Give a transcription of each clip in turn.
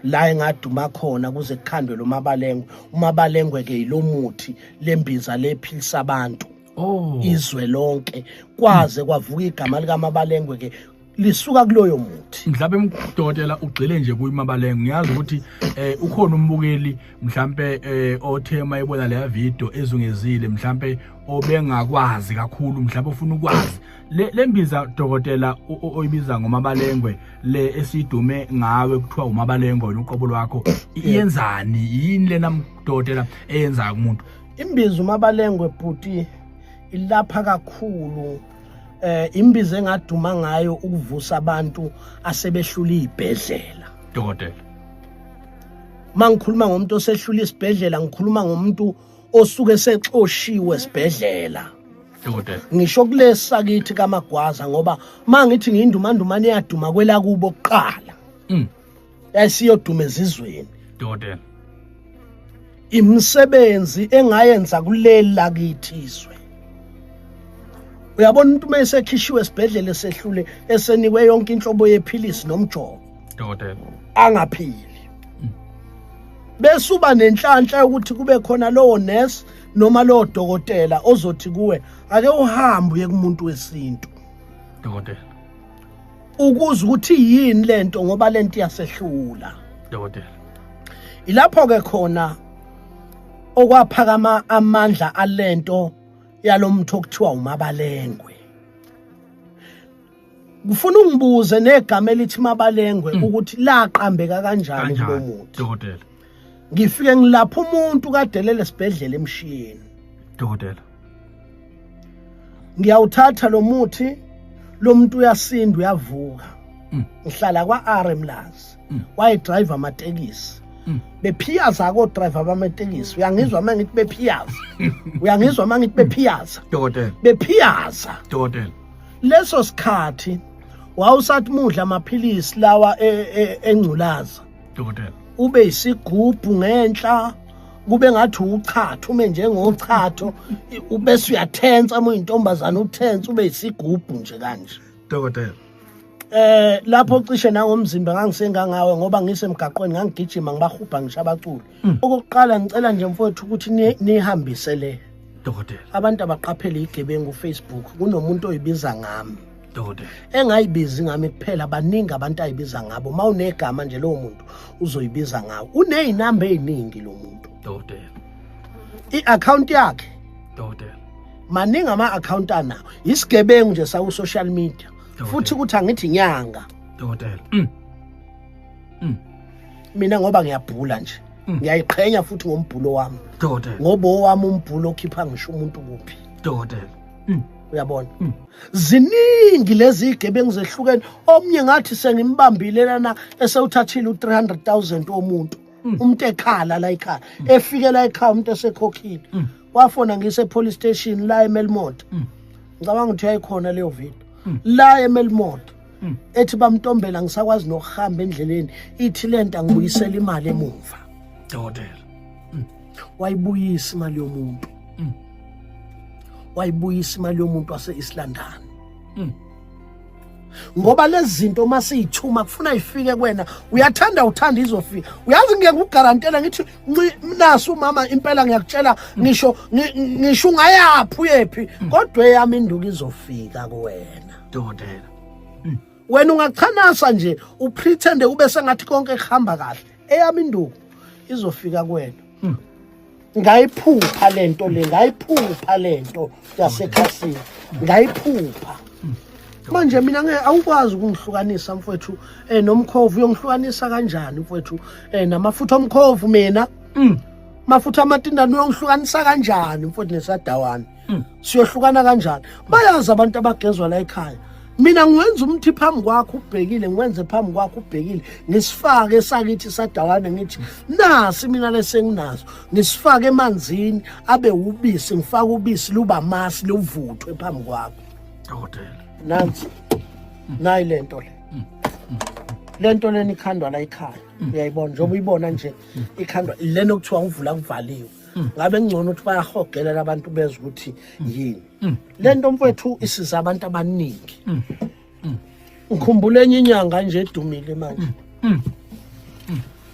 la engaduma khona kuze kukhandwe lo mabalengwe umabalengwe ke yilomuthi lembiza lephilisa abantu oh izwe lonke kwaze kwavuka igama lika mabalengwe ke lisuka kuloyo muthi mhlawumbe mdokotela ugxile nje kuyimabalenge ngiyazi ukuthi eh ukhona umbukeli mhlawumbe eh othe mayibona leya video ezungezile mhlawumbe obengakwazi kakhulu mhlawumbe ufuna ukwazi le lembiza dokotela oyibiza ngomabalengwe le esidume ngawe kuthiwa umabalengwe wena uqobo lwakho iyenzani yini lena dokotela eyenzayo kumuntu imbiza umabalengwe bhuti ilapha kakhulu eh imbiza engaduma ngayo ukuvusa abantu asebehlula izibhedlela dokotela mangikhuluma ngomuntu osehlula isibhedlela ngikhuluma ngomuntu osuke sexoshiwe esibhedlela ngisho kulesa kithi kamagwaza ngoba mangithi ngiyindumandumane yaduma kwelakubo kuqala mm. yayisiyoduma ezizweni dokotela imisebenzi engayenza kuleli lakithi izwe uyabona umuntu uma esekhishiwe esibhedlela esehlule esenikwe yonke inhlobo yephilisi nomjovo dokotela angaphili bese uba nenhlanhla yokuthi kube khona lowo nurse noma lowo dokotela ozothi kuwe ake uhambe uye kumuntu wesintu dokotela ukuze ukuthi yini lento ngoba lento iyasehlula dokotela ilapho ke khona okwaphakama amandla alento yalomtho okuthiwa umabalengwe ngifuna ungibuze negama elithi mabalengwe mm. ukuthi laqambeka kanjani kulo muntu dokotela ngifike ngilapha umuntu kadelele sibhedlela emshiyeni dokotela ngiyawuthatha lo muthi lo muntu uyasinda uyavuka mm. ngihlala kwa-r emlazi mm. wayedrive amatekisi bephiyaza kodriver bamatekisi uyangizwa uma ngithi bephiyaza uyangizwa uma ngithi bephiyaza bephiyaza leso sikhathi wawusathi mudla amaphilisi lawa e, e, engculaza dokotela ube isigubhu ngenhla kube ngathi uchatha ume njengochatho ubese uyathensa uma uyintombazana uthensa ube isigubhu nje kanje dokotela eh lapho cishe nangomzimba ngangisengangawe ngoba ngisemgaqweni ngangigijima ngibahubha ngisho abaculi Mm. Okokuqala ngicela nje mfowethu ukuthi nihambise le dokotela. Abantu abaqaphele igebengu Facebook kunomuntu oyibiza ngami. Dokotela. Engayibizi ngami kuphela baningi abantu ayibiza ngabo. Mawunegama nje lowo muntu uzoyibiza ngawo. Unezinamba eziningi lo muntu. Dokotela. I-account yakhe. Dokotela. Maningi ama account anawo. Isigebengu nje saku social media. Futhi ukuthi angithi nyanga. Dokotela. Mm. mm. mina ngoba ngiyabhula nje mm. ngiyayiqhenya futhi ngombhulo wami dokotela ngoba owami umbhulo okhipha ngisho umuntu kuphi dokotela mm. uyabona mm. ziningi lezi igebengu zehlukene omnye ngathi sengimbambile lana esewuthathile u300 000 womuntu mm. umuntu ekhala la ekhaya mm. efike la ekhaya umuntu esekhokhile mm. wafona ngise police station la eMelmont mm. ngicabanga ukuthi uyayikhona leyo video mm. la eMelmont hmm. ethi bamntombela ngisakwazi nokuhamba endleleni ithi lento angibuyisela imali emuva dokotela hmm. wayibuyisa imali yomuntu hmm. wayibuyisa imali yomuntu wase-islandani ngoba lezi zinto uma siyithuma kufuna ifike kwena uyathanda uthanda izofika uyazi ngeke ugarantela ngithi nasi umama impela ngiyakutshela ngisho ngisho ungayaphi uyephi kodwa eyami induku izofika kuwena dokotela hmm. wena ungachanasa nje upretende ube sengathi konke kuhamba kahle eyami induku izofika kwena hmm. ngayiphupha lento le ngayiphupha lento yasekhasini ngayiphupha hmm. manje mina ngeke awukwazi ukungihlukanisa mfowethu eh nomkhovu uyongihlukanisa kanjani mfowethu eh namafutha omkhovu mina mafutha amatindana uyongihlukanisa kanjani mfowethu nesadawana hmm. siyohlukana kanjani bayazi abantu abagezwa la ekhaya mina ngiwenza umthi phambi kwakho ubhekile ngiwenze phambi kwakho ubhekile ngisifake esakithi sadawane ngithi nasi mina lesenginazo ngisifake emanzini abe ubisi ngifake ubisi luba masi luvuthwe phambi kwakho dokotela nansi nayi lento le lento leni ikhandwa la ikhaya uyayibona njengoba uyibona nje ikhandwa lena okuthiwa ngivula kuvaliwe mm. ngabe ngcono ukuthi bayahogelela abantu bezwe ukuthi mm. yini mm. le nto mfowethu isiza abantu abaningi ngikhumbula enye inyanga nje edumile manje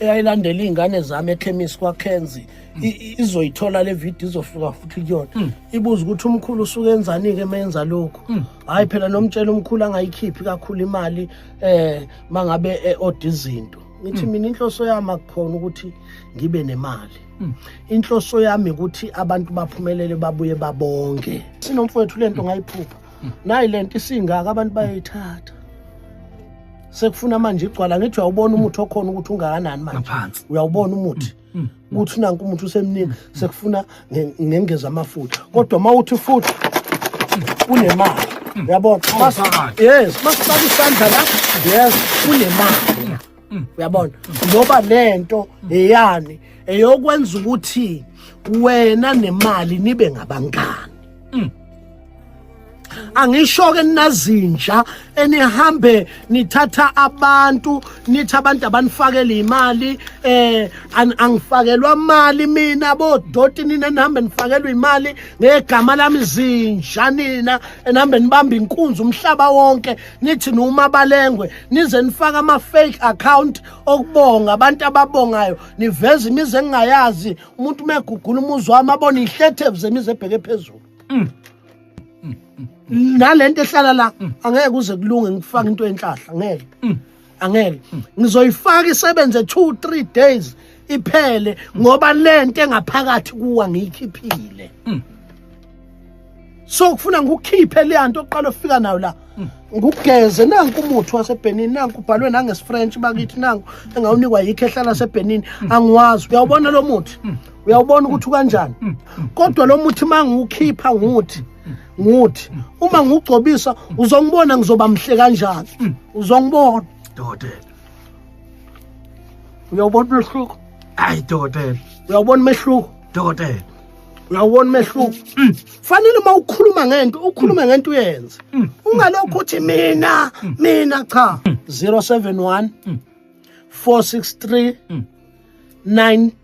eyayilandela iy'ngane zami ekhemisi kwakhenzi izoyithola le video izofika futhi kuyona ibuza ukuthi umkhulu usuke enzani-ke uma yenza lokhu hhayi phela nomtshela umkhulu angayikhiphi kakhulu imali um mangabe e-oda izinto ngithi mina inhloso yami akukhona ukuthi ngibe nemali Hmm. inhloso yami ukuthi abantu baphumelele babuye babonke sinomfowethu lento ngayiphupha hmm. nayi lento isingaka abantu bayoyithatha sekufuna manje igcwala ngithi uyawubona umuthi hmm. okhona ukuthi ungakanani manje uyawubona umuthi ukuthi nanku umuthi usemningi sekufuna ngengeza amafutha kodwa uma uthi futhi unemali uyabona yes masifaka isandla la yes unemali Mm. uyabona ngoba lento eyani eyokwenza ukuthi wena nemali nibe ngabangani mm. angisho ke ninazinja enihambe nithatha abantu nithi abantu abanifakela imali eh angifakelwa imali mina bodoti nina nihambe nifakelwa imali ngegama lami zinja nina enihambe nibamba inkunzi umhlaba wonke nithi noma balengwe nize nifaka ama fake account okubonga abantu ababongayo niveza imizi engingayazi umuntu megugula umuzi wami abona ihlethevu zemizi ebheke phezulu mm. mm. mm. nalento ehlala la mm. angeke kuze kulunge ngifaka into yenhlahla ngeke mm. angeke ngizoyifaka isebenze 2 3 days iphele ngoba lento engaphakathi kuwa ngiyikhiphile hmm. so kufuna ngikukhiphe le nto oqala ofika nayo la hmm. ngugeze nanku umuthi waseBenin nanku ubhalwe nangesifrench bakithi nanku engawunikwa yikho ehlala seBenin hmm. angiwazi uyawubona lo muthi uyawubona ukuthi kanjani kodwa lo muthi mangiwukhipha nguthi nguthi uma ngugcobisa uzongibona ngizoba mhle kanjani mm. uzongibona dokotela uyawubona umehluko hayi dokotela uyawubona umehluko dokotela uyawubona umehluko mm. fanele uma ukhuluma ngento ukhulume mm. ngento uyenze ungalokhu uthi mina mina cha 071 463 9